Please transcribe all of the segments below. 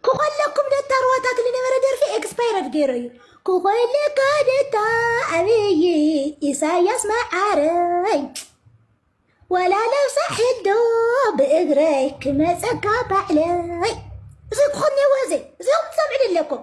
ክኾለኩም ደታ ሩዋታት ዝነበረ ደርፊ ኤክስፓየር ኣድገይሮ እዩ ክኾለካ ደታ ኣብይ ኢሳያስ መዓረይ ወላ ለብሳ ሕዶ ብእግረይ ክመፀካ ባዕለይ እዚ ክኾን ነወ እዚ እዚ ትሰምዕን ኣለኩም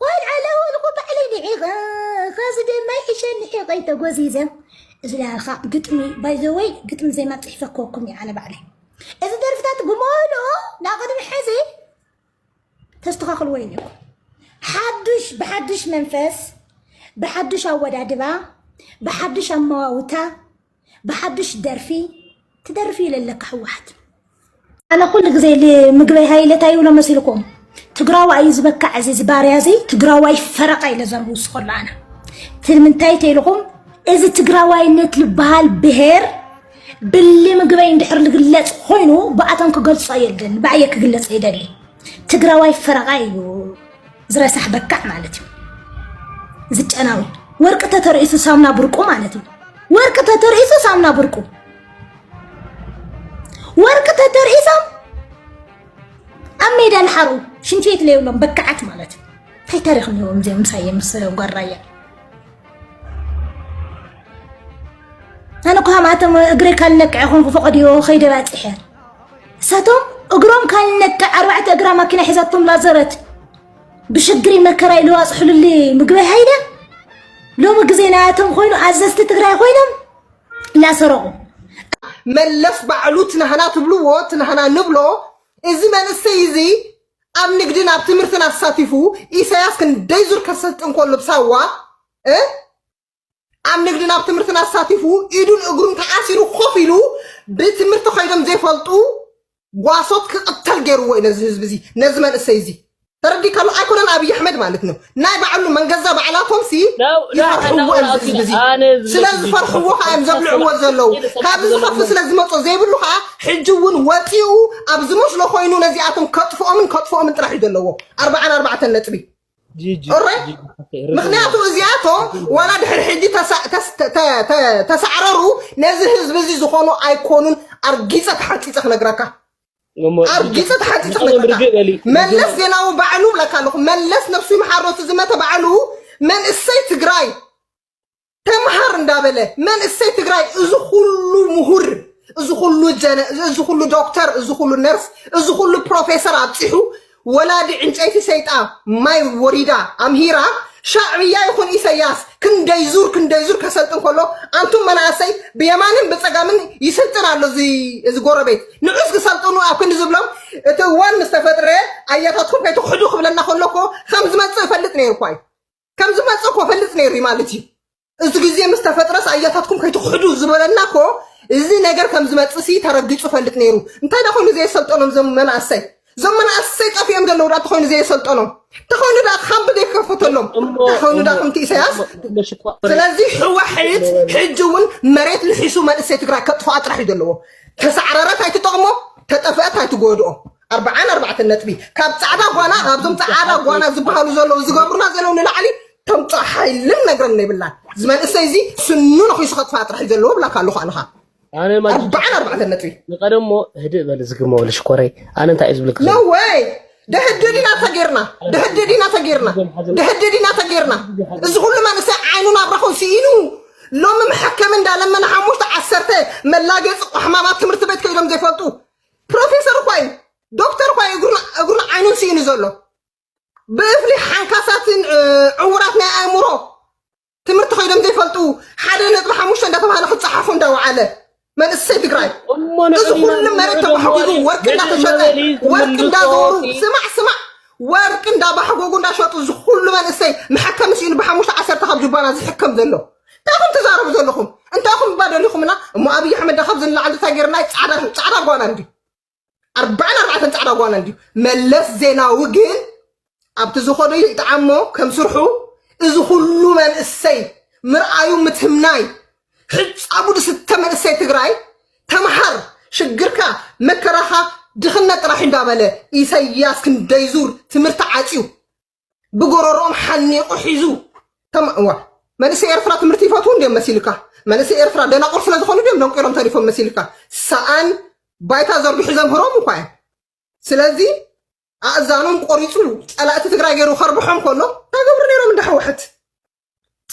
ቆልዓ ላወልኩ ባዕለይ ንዒቐ ኸዚ ደማ ይሕሸኒ ሒቐይ ተጎዚዘ እዚላኻ ግጥሚ ባይዘወይ ግጥሚ ዜማ ፅሒፈ ክወኩም እየ ኣነ ባዕለይ እዚ ደርፍታት ብመሉ ናቕድሚ ሕዚ ተስተኻኽልዎ ኢለኩም ሓዱሽ ብሓዱሽ መንፈስ ብሓዱሽ ኣወዳድባ ብሓዱሽ ኣመዋውታ ብሓዱሽ ደርፊ ትደርፊ ለለካ ህወሓት ኣነ ኩሉ ግዜ ንምግበይ ሃይለ እንታይ ይብሎ መሲልኩም ትግራዋ እዩ ዝበካዕ እዚ ዝባርያ እዚ ትግራዋይ ፈረቃ ኢለ ዘርቡ ስከሎ ኣነ ትምንታይ ተይልኹም እዚ ትግራዋይነት ዝበሃል ብሄር ብሊ ምግበይ እንድሕር ዝግለፅ ኮይኑ ብኣቶም ክገልፆ የለን ብኣየ ክግለፅ ይደሊ ትግራዋይ ፈረቃ እዩ ዝረሳሕ በካዕ ማለት እዩ ዝጨናዊ ወርቂ ተተርእሱ ሳምና ብርቁ ማለት እዩ ወርቂ ተተርእሱ ሳምና ብርቁ ወርቂ ተተርእሶም ኣብ ሜዳ ንሓሩ ሽንቲ ቤት ለይብሎም በካዓት ማለት እዩ እንታይ ታሪክ ነዎም እዚኦም ምሳየ ምስ ጓራያ ኣነ እኮ ሃማቶም እግሪ ካልነቅዐ ኮንኩ ፈቐድዮ ከይደ ባፅሐ እሳቶም እግሮም ካልነቅዕ ኣርባዕተ እግራ ማኪና ሒዛቶም ላዘረት ብሽግሪ መከራይ ልዋፅሑሉሊ ምግቢ ሃይለ ሎሚ ግዜ ናያቶም ኮይኑ ኣዘዝቲ ትግራይ ኮይኖም ላሰረቑ መለስ ባዕሉ ትናህና ትብልዎ ትናህና ንብሎ እዚ መንእሰይ እዚ ኣብ ንግድን ኣብ ትምህርትን ኣሳቲፉ ኢሳያስ ክንደይ ዙር ከሰልጥ እንከሎ ብሳዋ ኣብ ንግድን ኣብ ትምህርትን ኣሳቲፉ ኢዱን እግሩን ተኣሲሩ ኮፍ ኢሉ ብትምህርቲ ኮይኖም ዘይፈልጡ ጓሶት ክቕተል ገይርዎ እዩ ነዚ ህዝቢ እዚ ነዚ መንእሰይ እዚ ተረዲካሉ ኣይኮነን ኣብይ ኣሕመድ ማለት ነው ናይ ባዕሉ መንገዛ ባዕላቶም ሲ ይፈርሕዎ እዮም ህዝቢ እዚ ስለ ዝፈርሕዎ ከዓ እዮም ዘብልዕዎ ዘለዉ ካብዚ ዝኸፍ ስለ ዝመፆ ዘይብሉ ከዓ ሕጂ እውን ወፂኡ ኣብ ዝመስሎ ኮይኑ ነዚኣቶም ከጥፍኦምን ከጥፍኦምን ጥራሕ እዩ ዘለዎ ኣርባዓን ኣርባዕተን ነጥቢ እሮይ ምክንያቱ እዚኣቶም ዋላ ድሕሪ ሕጂ ተሳዕረሩ ነዚ ህዝቢ እዚ ዝኾኑ ኣይኮኑን ኣርጊፀ ተሓንፂፀ ክነግረካ ኣርጊፀ ተሓንፂፀ ክነግረካ መለስ ዜናዊ ባዕሉ ብለካ ኣለኹ መለስ ነብሱ ይምሓሮ እቲ ዝመተ ባዕሉ መንእሰይ ትግራይ ተምሃር እንዳበለ መንእሰይ ትግራይ እዚ ኩሉ ምሁር እዚ ኩሉ ጀነ እዚ ኩሉ ዶክተር እዚ ኩሉ ነርስ እዚ ኩሉ ፕሮፌሰር ኣብፂሑ ወላዲ ዕንጨይቲ ሰይጣ ማይ ወሪዳ ኣምሂራ ሻዕብያ ይኹን ኢሰያስ ክንደይ ዙር ክንደይ ዙር ከሰልጥን ከሎ ኣንቱም መናእሰይ ብየማንን ብፀጋምን ይስልጥን ኣሎ እዚ እዚ ጎረቤት ንዑስ ክሰልጥኑ ኣብ ክንዲ ዝብሎም እቲ እዋን ምስ ተፈጥረ ኣያታትኩም ከይትኽሕዱ ክብለና ከሎ እኮ ከም ዝመፅእ እፈልጥ ነይርኳ እዩ ከም ዝመጽእ እኮ ፈልጥ ነይሩ እዩ ማለት እዩ እዚ ግዜ ምስ ተፈጥረስ ኣያታትኩም ከይትክሕዱ ዝበለና እኮ እዚ ነገር ከም ዝመጽእ ሲ ተረጊጹ ፈልጥ ነይሩ እንታይ ዳ ኮይኑ ዘየሰልጠኖም እዞም መናእሰይ እዞም መናእሰይ ጠፊኦም ዘለዉ ዳ ተኮይኑ ዘየሰልጠኖም ተኮይኑ ዳ ካምቢ ዘይከፈተሎም ተኮይኑ ዳ ከምቲ ኢሳያስ ስለዚ ሕዋሕት ሕጂ እውን መሬት ልሒሱ መንእሰይ ትግራይ ከጥፍኣ ጥራሕ እዩ ዘለዎ ተሳዕረረት ኣይትጠቕሞ ተጠፍአት ኣይትጎድኦ ኣርብዓን ኣርባዕተን ነጥቢ ካብ ፃዕዳ ጓና ካብዞም ፃዕዳ ጓና ዝበሃሉ ዘለዉ ዝገብሩና ዘለዉ ንላዕሊ ተምፅኦ ሓይልን ነግረን የብላን እዚ መንእሰይ እዚ ስኑ ነኺሱ ከጥፋእ ጥራሕ እዩ ዘለዎ ብላካ ኣለኹ ኣነኻ ኣነ ማጂ ኣርብዓን ኣርባዕተን ነጥቢ ንቀደም እሞ ህድእ በል ዝግመ ወለ ሽኮረይ ኣነ እንታይ እዩ ዝብልክ ዘሎ ነወይ ደህድድ ኢና ተጌርና ደህድድ ኢና ተጌርና ደህድድ ኢና ተጌርና እዚ ኩሉ መንእሰይ ዓይኑ ናብራኹ ስኢኑ ሎሚ መሐከሚ እንዳለመነ ሓሙሽተ ዓሰርተ መላገፂ ቆሕማማት ትምህርቲ ቤት ከይዶም ዘይፈልጡ ፕሮፌሰር እኳ እዩ ዶክተር እኳ እዩ እግሩን- እግሩን ዓይኑን ስኢኑ ዘሎ ብእፍሊ ሓንካሳትን እ፣ ዕውራት ናይ ኣእምሮ ትምህርቲ ኮይኖም ዘይፈልጡ ሓደ ነጥቢ ሓሙሽተ እንዳተባሃለ ክፀሓፉ እንዳወዓለ መንእሰይ ትግራይ እሞ እዚ ንዕድና ኩሉ መሬት ንዕድም ተባሕጉጉ ወሪድ ወርቂ ነቲ እንዳተሸጠ መበሊ ወርቂ ዝምልሶ እንዳገበሩ እቲ ስማዕ ስማዕ ወርቂ እንዳባሕጎጉ እንዳሸጡ እዚ ኩሉ መንእሰይ መሐከሚ ስኢኑ ብሓሙሽተ ዓሰርተ ካብ ጅባና ዝሕከም ዘሎ እንታይ ኹም ትዛረቡ ዘለኹም እንታይ ኹም እባ ደሊኹምና እሞ ኣብዪ ኣሕመድ ዳ ካብዚ ንላዕሊ እንታይ ገይርና ፃዕዳ ጓና እንዲ ኣርባዕን ኣርባዕተን ፃዕዳ ጓና እንዲ መለስ ዜናዊ ግን ኣብቲ ዝኾዶ ይጥዓሞ ከም ስርሑ እዚ ኩሉ መንእሰይ ምርኣዩ ምትምናይ ሕፃቡ ድስተ መንእሰይ ትግራይ ተምሃር ሽግርካ መከራኻ ድኽነት ጥራሕ እንዳበለ ኢሰያስ ክንደይ ዙር ትምህርቲ ዓፅዩ ብጎረሮኦም ሓኒቑ ሒዙ ከም እዋ መንእሰይ ኤርትራ ትምህርቲ ይፈትዉ እንዲዮም መሲልካ መንእሰይ ኤርትራ ደናቑር ስለ ዝኾኑ ድዮም ደንቂሮም ተሪፎም መሲልካ ሰኣን ባይታ ዘርግሑ ዘምህሮም እኳ እዮም ስለዚ ኣእዛኖም ቆሪፁ ፀላእቲ ትግራይ ገይሩ ከርብሖም ከሎ እንታይ ገብሩ ነይሮም እንዳ ህወሓት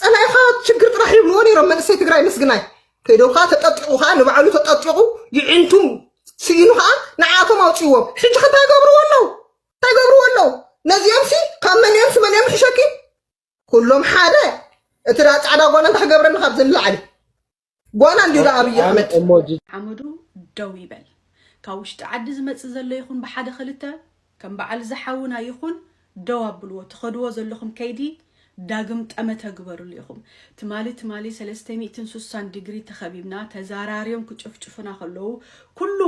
ፀላኢኻ ሽግር ጥራሕ ይብልዎ ነይሮም መንእሰይ ትግራይ ምስግናይ ከይዶም ከዓ ተጠጢቑ ከዓ ንባዕሉ ተጠጢቑ ይዕንቱም ስኢኑ ከዓ ንዓቶም ኣውፅዎም ሕጂ ከ እንታይ ገብርዎ ኣለው እንታይ ገብርዎ ኣለው ነዚኦም ሲ ካብ መን እዮም ስመን እዮም ሕሸኪ ኩሎም ሓደ እቲ ዳ ፃዕዳ ጓና እንታይ ክገብረኒ ካብዚ ንላዕሊ ጓና እንዲዩ ዶ ኣብይ ኣሕመድ ሓመዱ ደው ይበል ካብ ውሽጢ ዓዲ ዝመጽእ ዘሎ ይኹን ብሓደ ክልተ ከም በዓል እዚ ሓውና ይኹን ደው ኣብልዎ ትኸድዎ ዘለኹም ከይዲ ዳግም ጠመተ ግበርሉ ኢኹም ትማሊ ትማሊ ሰለስተ ሚእትን ሱሳን ዲግሪ ተኸቢብና ተዛራርዮም ክጭፍጭፉና ከለዉ ኩሉ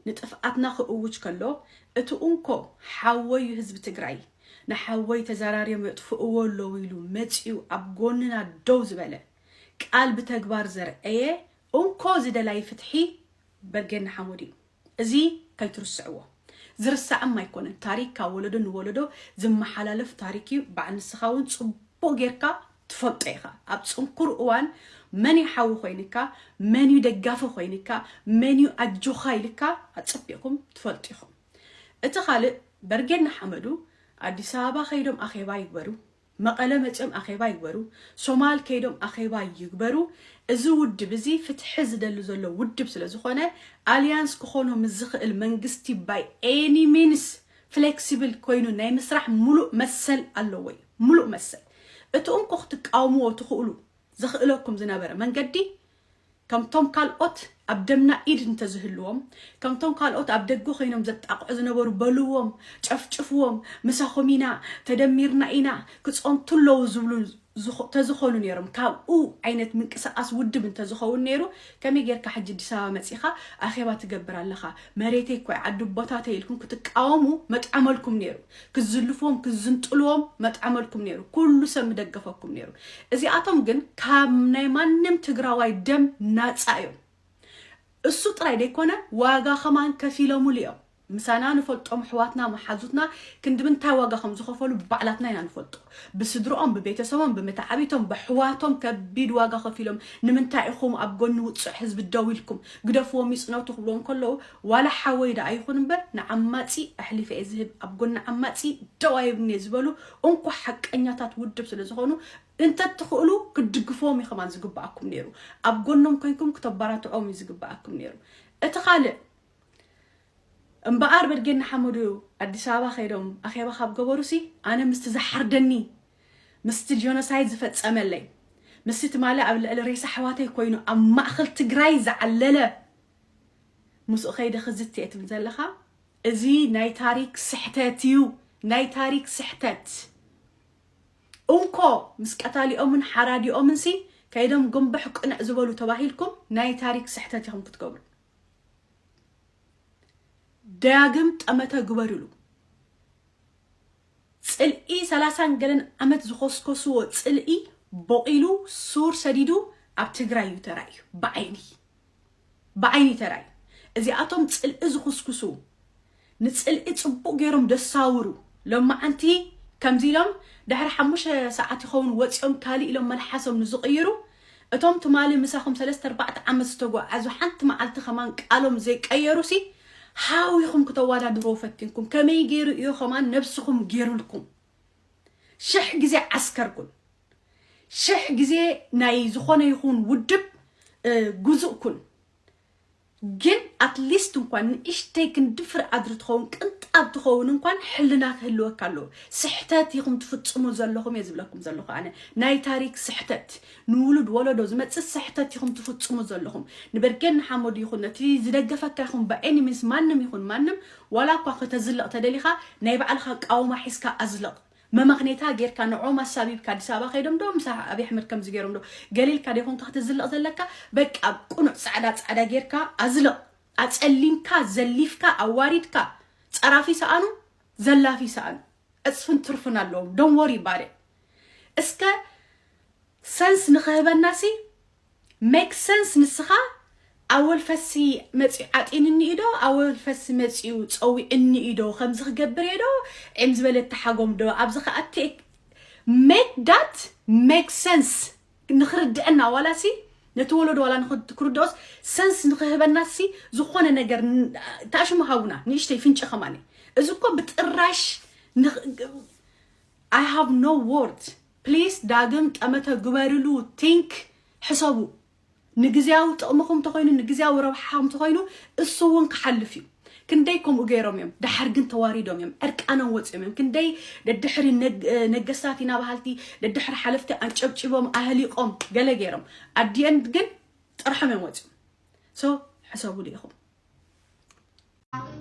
ንጥፍኣትና ክእውጅ ከሎ እቲ ኡንኮ ሓወይ እዩ ህዝቢ ትግራይ ንሓወይ ተዛራርዮም የጥፍእዎ ኣለዉ ኢሉ መጺኡ ኣብ ጎንና ደው ዝበለ ቃል ብተግባር ዘርኣየ እንኮ ዝደላይ ፍትሒ በርጌድ ንሓመዱ እዩ እዚ ከይትርስዕዎ ዝርሳዕም ኣይኮነን ታሪክ ካብ ወለዶ ንወለዶ ዝመሓላለፍ ታሪክ እዩ በዓል ንስኻ እውን ፅቡቅ ጽቡቅ ጌርካ ትፈልጦ ኢኻ ኣብ ፅንኩር እዋን መን እዩ ሓዊ ኮይንካ መን እዩ ደጋፊ ኮይንካ መን እዩ ኣጆኻ ኢልካ ኣፀቢቕኩም ትፈልጡ ኢኹም እቲ ካልእ በርጌድ ንሓመዱ ኣዲስ ኣበባ ከይዶም ኣኼባ ይግበሩ መቐለ መፅዮም ኣኼባ ይግበሩ፣ ሶማል ከይዶም ኣኼባ ይግበሩ እዚ ውድብ እዚ ፍትሒ ዝደሊ ዘሎ ውድብ ስለ ዝኾነ ኣሊያንስ ክኾኖ ምስ ዝኽእል መንግስቲ ባይ ኤኒ ሚንስ ፍሌክሲብል ኮይኑ ናይ ምስራሕ ሙሉእ መሰል ኣለዎ እዩ። ሙሉእ መሰል። እቲ እንኮ ክትቃወምዎ ትኽእሉ ዘኽእለኩም ዝነበረ መንገዲ ከምቶም ካልኦት ኣብ ደምና ኢድ እንተዝህልዎም ከምቶም ካልኦት ኣብ ደገ ኮይኖም ዘጣቕዑ ዝነበሩ በልዎም ጨፍጭፍዎም ምሳኹም ኢና ተደሚርና ኢና ክጸንቱ ኣለዉ ዝብሉ ተዝኾኑ ነይሮም ካብኡ ዓይነት ምንቅስቓስ ውድብ እንተዝኸውን ነይሩ ከመይ ጌርካ ሕጂ ኣዲስ ኣበባ መጺኻ ኣኼባ ትገብር ኣለኻ መሬተይ እኮ ዓዲ ቦታተይ ኢልኩም ክትቃወሙ መጥዐመልኩም ነይሩ ክዝልፎም ክዝንጥልዎም መጥዓመልኩም ነይሩ ኩሉ ሰብ ምደገፈኩም ነይሩ እዚኣቶም ግን ካብ ናይ ማንም ትግራዋይ ደም ናፃ እዮም እሱ ጥራይ ደይኮነ ዋጋ ከማን ከፊለሙሉ እዮም ምሳና ንፈልጦም ኣሕዋትና መሓዙትና ክንዲ ምንታይ ዋጋ ከም ዝኸፈሉ ባዕላትና ኢና ንፈልጦ ብስድርኦም ብቤተሰቦም ብምትዓቢቶም ብኣሕዋቶም ከቢድ ዋጋ ከፊሎም ንምንታይ ኢኹም ኣብ ጎኒ ውፅዕ ህዝቢ ደው ኢልኩም ግደፍዎም ይፅነቱ ክብልዎም ከለዉ ዋላ ሓወይ ዳኣ ይኹን እምበር ንዓማጺ ኣሕሊፈ እየ ዝህብ ኣብ ጎኒ ዓማጺ ደው ኣይብልን እየ ዝበሉ እንኮ ሓቀኛታት ውድብ ስለ ዝኾኑ እንተትኽእሉ ክትድግፍዎም ኢኹም ዝግብኣኩም ነይሩ ኣብ ጎኖም ኮይንኩም ክተባራትዕዎም እዩ ዝግብኣኩም ነይሩ እቲ ካልእ እምበኣር በድጌን ንሓመዱ ኣዲስ ኣበባ ከይዶም ኣኼባ ካብ ገበሩሲ ኣነ ምስቲ ዝሓርደኒ ምስቲ ጆኖሳይድ ዝፈጸመለይ ምስቲ ትማሊ ኣብ ልዕሊ ሬሳ ኣሕዋተይ ኮይኑ ኣብ ማእኸል ትግራይ ዝዓለለ ምስኡ ከይደ ክዝትየ ትብል ዘለኻ እዚ ናይ ታሪክ ስሕተት እዩ ናይ ታሪክ ስሕተት እንኮ ምስ ቀታሊኦምን ሓራዲኦምን ሲ ከይዶም ግንብሕ ቅንዕ ዝበሉ ተባሂልኩም ናይ ታሪክ ስሕተት ኢኹም ክትገብሩ ዳግም ጠመተ ግበርሉ ጽልኢ ሰላሳን ገለን ዓመት ዝኾስኮስዎ ጽልኢ ቦቂሉ ሱር ሰዲዱ ኣብ ትግራይ እዩ ተራእዩ ብዓይኒ ብዓይኒ ተራይ እዚኣቶም ጽልኢ ዝኹስኩሱ ንጽልኢ ጽቡቅ ጌሮም ደሳውሩ ሎማዓንቲ ከምዚ ኢሎም ድሕሪ ሓሙሽተ ሳዓት ይኸውን ወጺኦም ካልእ ኢሎም መልሓሶም ንዝቅይሩ እቶም ትማሊ ምሳኹም ሰለስተ ኣርባዕተ ዓመት ዝተጎዓዙ ሓንቲ መዓልቲ ከማን ቃሎም ዘይቀየሩሲ ሓዊኹም ክተዋዳድርዎ ፈቲንኩም ከመይ ጌሩ ኢዩ ከማን ነብስኹም ጌሩልኩም ሽሕ ግዜ ዓስከር ኩን ሽሕ ግዜ ናይ ዝኾነ ይኹን ውድብ ጉዙእ ኩን ግን ኣትሊስት እንኳን ንእሽተይ ክንዲ ፍረ ኣድሪ ትኸውን ቅንጣብ ትኸውን እንኳን ሕልና ክህልወካ ኣለዎ ስሕተት ኢኹም ትፍጽሙ ዘለኹም እየ ዝብለኩም ዘለኹ ኣነ ናይ ታሪክ ስሕተት ንውሉድ ወለዶ ዝመጽእ ስሕተት ኢኹም ትፍጽሙ ዘለኹም ንበርጌድ ንሓመዱ ይኹን ነቲ ዝደገፈካ ይኹን ብኤኒሚንስ ማንም ይኹን ማንም ዋላ እኳ ከተዝልቕ ተደሊኻ ናይ ባዕልኻ ኣቃውማ ሒዝካ ኣዝልቕ መመኽኔታ ጌርካ ንዕኦም ኣሳቢብካ ኣዲስ ኣበባ ከይዶም ዶ ምስ ኣብይ ኣሕመድ ከምዚ ጌሮም ዶ ገሊልካ ደይኮንካ ክትዝልቕ ዘለካ በቃ ቁኑዕ ጻዕዳ ጻዕዳ ጌርካ ኣዝልቕ ኣጸሊምካ ዘሊፍካ ኣዋሪድካ ጸራፊ ሰኣኑ ዘላፊ ሰኣኑ ዕጽፍን ትርፍን ኣለዎም ዶን ወሪ ባደ እስከ ሰንስ ንኽህበናሲ Make sense ንስኻ ኣወል ፈሲ መጽዩ ዓጢንኒ እዩ ዶ ኣወል ፈሲ መጽዩ ጸዊዑኒ እዩ ዶ ከምዚ ክገብር እየ ዶ ዒም ዝበለ ተሓጎም ዶ ኣብዚ ከኣ ቴክ make that make sense ንኽርድአና ዋላ ሲ ነቲ ወለዶ ዋላ ንኽት- ክርድኦስ ሰንስ ንኽህበና ሲ ዝኾነ ነገር ን- ታሽሙ ሃቡና ንእሽተይ ፍንጭ ከማኒ እዚ እኮ ብጥራሽ ንኽ- I have no word ፕሊስ ዳግም ጠመተ ግበርሉ think ሕሰቡ ንግዝያዊ ጥቅምኹም ተኾይኑ ንግዝያዊ ረብሓኹም ተኾይኑ እሱ እውን ክሓልፍ እዩ ክንደይ ከምኡ ገይሮም እዮም ደሓር ግን ተዋሪዶም እዮም ዕርቃኖም ወፂኦም እዮም ክንደይ ደድሕሪ ነገስታት ኢና በሃልቲ ደድሕሪ ሓለፍቲ ኣንጨብጪቦም ኣህሊቆም ገለ ገይሮም ኣዲኤንድ ግን ጥርሖም እዮም ወፂኦም ሶ ሕሰቡሉ ኢኹም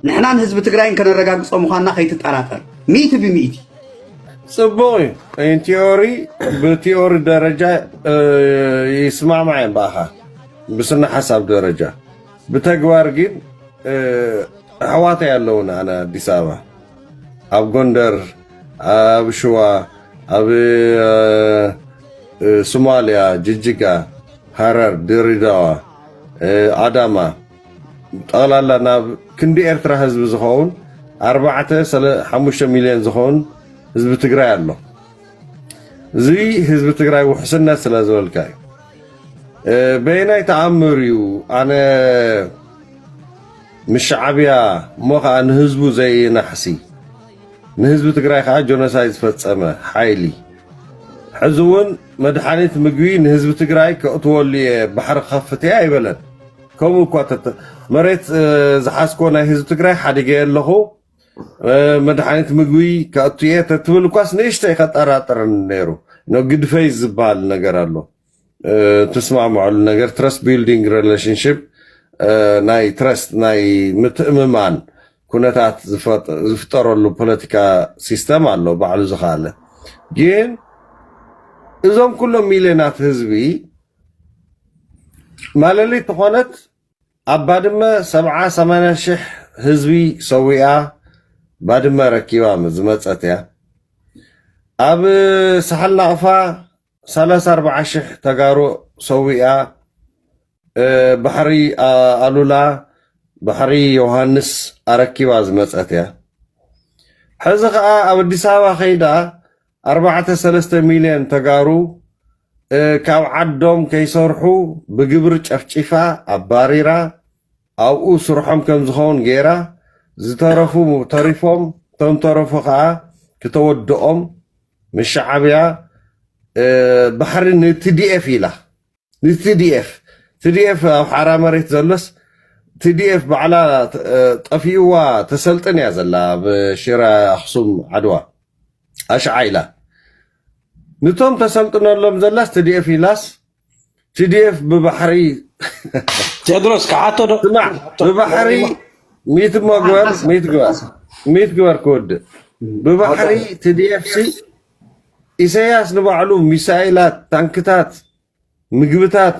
ንሕናን ህዝቢ ትግራይን ከነረጋግጾ ምዃንና ከይትጠራጠር ሚእቲ ብሚእቲ ጽቡቕ እዩ ኢንቲዮሪ ብቲዮሪ ደረጃ ይስማዕማዕ እዮም ብኣኻ ብስነ ሓሳብ ደረጃ ብተግባር ግን ኣሕዋተይ ኣለውን ኣነ ኣዲስ ኣበባ ኣብ ጎንደር ኣብ ሽዋ ኣብ ሶማልያ ጅጅጋ ሃረር ድሬዳዋ ኣዳማ ጠቕላላ ናብ ክንዲ ኤርትራ ህዝቢ ዝኸውን ኣርባዕተ ሓሙሽተ ሚልዮን ዝኸውን ህዝቢ ትግራይ ኣሎ። እዚ ህዝቢ ትግራይ ውሕስነት ስለ ዝበልካ እዩ። በየናይ ተኣምር እዩ ኣነ ምስ ሻዕብያ እሞ ከዓ ንህዝቡ ዘይናሕሲ ንህዝቢ ትግራይ ከዓ ጆኖሳይድ ዝፈፀመ ሓይሊ ሕዚ እውን መድሓኒት ምግቢ ንህዝቢ ትግራይ ከእትወሉ እየ ባሕሪ ከፍት እየ ኣይበለን። ከምኡ እኳ ተተ መሬት እ፣ ዝሓዝኮ ናይ ህዝቢ ትግራይ ሓዲገ ኣለኹ እ፣ መድሓኒት ምግቢ ከእቱ እየ ተትብል እኳስ ንእሽተይ ከጠራጥርን ነይሩ ኖ ግድፈይ ዝበሃል ነገር ኣሎ እ፣ ትስማዕምዐሉ ነገር ትረስት ቢልዲንግ ሬሌሽንሽፕ ናይ ትረስት ናይ ምትእምማን ኩነታት ዝፈጥ- ዝፍጠረሉ ፖለቲካ ሲስተም ኣሎ ባዕሉ ዝኸኣለ ግን እዞም ኩሎም ሚልዮናት ህዝቢ ማለሊት ተኾነት ኣብ ባድመ ሰብዓ ሰማንያ ሽሕ ህዝቢ ሰዊኣ ባድመ ረኪባ ዝመፀት እያ። ኣብ ሳሕል ናቕፋ ሰላሳ ኣርባዓ ሽሕ ተጋሩ ሰዊኣ ባሕሪ ኣሉላ ባሕሪ ዮሃንስ ኣረኪባ ዝመፀት እያ። ሕዚ ከዓ ኣብ ኣዲስ ኣበባ ከይዳ ኣርባዕተ ሰለስተ ሚልዮን ተጋሩ ካብ ዓዶም ከይሰርሑ ብግብሪ ጨፍጪፋ ኣባሪራ ኣብኡ ስርሖም ከም ዝኸውን ገይራ ዝተረፉ ተሪፎም እቶም ተረፉ ከዓ ክተወድኦም ምስ ሸዓብያ ባሕሪ ንቲዲኤፍ ኢላ ንትዲኤፍ ትዲኤፍ ኣብ ሓራ መሬት ዘሎስ ትዲኤፍ ባዕላ ጠፊእዋ ተሰልጥን እያ ዘላ ኣብ ሽረ ኣክሱም ዓድዋ ኣሽዓ ኢላ ንቶም ተሰልጥነሎም ዘላስ ትዲኤፍ ኢላስ ትዲኤፍ ብባሕሪ ቴድሮስ ክሓቶ ዶ ስማዕ ብባሕሪ ሚት መግበር ሚት ግበር ሚት ግበር ክወድእ ብባሕሪ ትዲኤፍ ሲ ኢሰያስ ንባዕሉ ሚሳይላት ታንክታት ምግብታት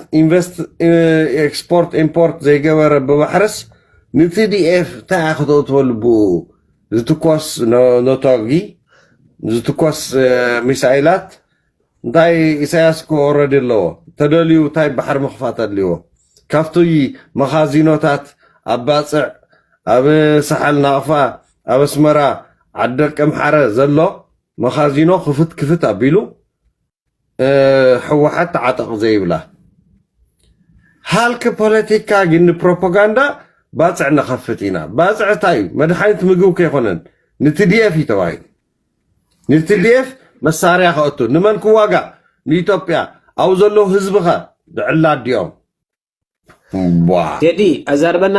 ኤክስፖርት ኢምፖርት ዘይገበረ ብማሕረስ ንቲዲኤፍ እንታይ እያ ክተእትወሉ ብኡ ዝትኮስ ነቶጊ ዝትኮስ ሚሳይላት እንታይ ኢሳያስ እኮ ወረዲ ኣለዎ ተደልዩ እንታይ ባሕሪ ምኽፋት ኣድልዎ ካብቲ መኻዚኖታት ኣብ ባፅዕ ኣብ ሳሓል ናቕፋ ኣብ ኣስመራ ዓዲ ደቂ ኣምሓረ ዘሎ መኻዚኖ ክፍት ክፍት ኣቢሉ ሕወሓት ተዓጠቕ ዘይብላ ሃልኪ ፖለቲካ ግን ንፕሮፓጋንዳ ባፅዕ ንኸፍት ኢና ባፅዕ እንታይ እዩ መድሓኒት ምግብ ከይኮነን ንትዲኤፍ እዩ ተባሂሉ ንትዲኤፍ መሳርያ ከእቱ ንመን ክዋጋእ ንኢትዮጵያ ኣብ ዘሎ ህዝብኸ ብዕላ ኣዲኦም ቴዲ ኣዛርበና